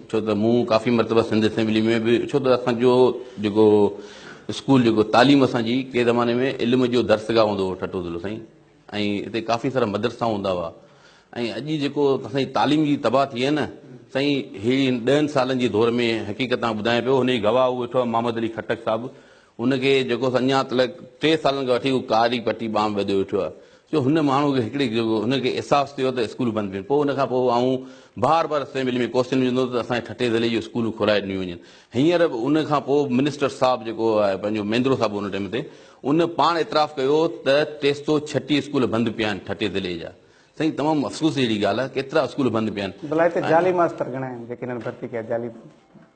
ڇو ته مون ڪافي مرتبه سنڌ اسيمبلي ۾ به ڇو ته اسان جو جيڪو اسڪول جيڪو تعليم اسان جي ڪي زماني ۾ علم جو درسگاهه هوندو هو ٺٽو ضلعو سائين ۽ هتي ڪافي سارا مدرسا هوندا هئا ۽ اڄ جيڪو سائين تعليم جي تباهه ٿي آهي نه سائين هي ڏهن سالن جي دور ۾ حقيقت تان ٻڌايان پيو هن جي گواهه اهو ويٺو آهي محمد علي خٽڪ صاحب هن کي جيڪو اڃا تلڪ ٽي سالن کان وٺي هو ڪاري پٽي ٻانهن ٻڌي ويٺو آهي جو هن ماڻهو کي هڪڙي هن کي احساس ٿيو ته اسڪول بند ڪيون پوء ان کان پوء آئون بار بار اسيمبلي ۾ ڪوشچن وجهندو هوس ته اسان جي ٺٽي ضلعي جون اسڪولون کولائي ڏنيون وڃن هينئر به ان کان پوء منسٽر صاحب جيڪو آهي پنهنجو ميندرو صاحب ان ٽيم تي ان پاڻ اعتراف ڪيو ته ٽي سو ڇٽيهه اسڪول بند پيا آهن ٺٽي ضلعي جا سائين تمام افسوس جهڙي ڳالهه آهي ڪيترا اسڪول بند پيا آهن بلائي ته جعلي ماستر گهڻا آهن جيڪي هنن ڀرتي ڪيا جعلي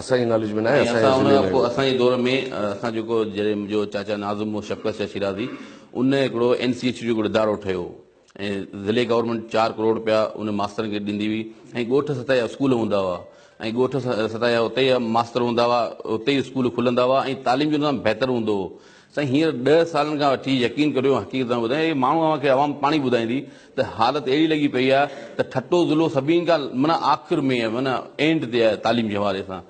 اسان جي ناليج ۾ ناهي ۽ اسان ان کان پوء اسان جي دور ۾ اسان جيڪو جڏهن منهنجو چاچا ناظم هو شڪلس شاهه شيرازي ان هڪڙو اين سي ايڇ جو هڪڙو ادارو ٺهيو هو ۽ ضلعي گورنمينٽ چار ڪروڙ رپيا ان ماسترن کي ڏيندي هئي ۽ ڳوٺ سطح جا اسڪول هوندا هئا ۽ ڳوٺ سطح جا اتي جا ماستر هوندا هئا اتي ئي اسڪول کلندا هئا ۽ تعليم جو نظام بهتر هوندو هو سائين هينئر ڏهه سالن کان وٺي يقين ڪريو حقيقت ٿا ٻڌايون اهي ماڻهو اوهان کي عوام پاڻي ٻڌائيندي ته حالت اهڙي لڳي پئي آهي ته ٺٽو ضلعو سڀني کان معنيٰ آخر ۾ معنيٰ اينڊ تي آهي تعليم جي حوالي سان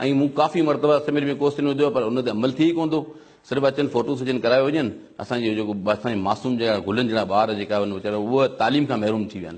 ۽ مون ڪافي مرتبه اسيمبلي ۾ ڪوسچن وڌو آهي پر ان تي عمل ٿئي ئي ڪونه ٿو صرف اچن فوٽو سيشن ڪرايو وڃن اسان جو جيڪو اسان جي معصوم جهڙا گلن جهڙا ٻار جيڪا ان ويچارا اهي تعليم کان محروم ٿي ويا آهن.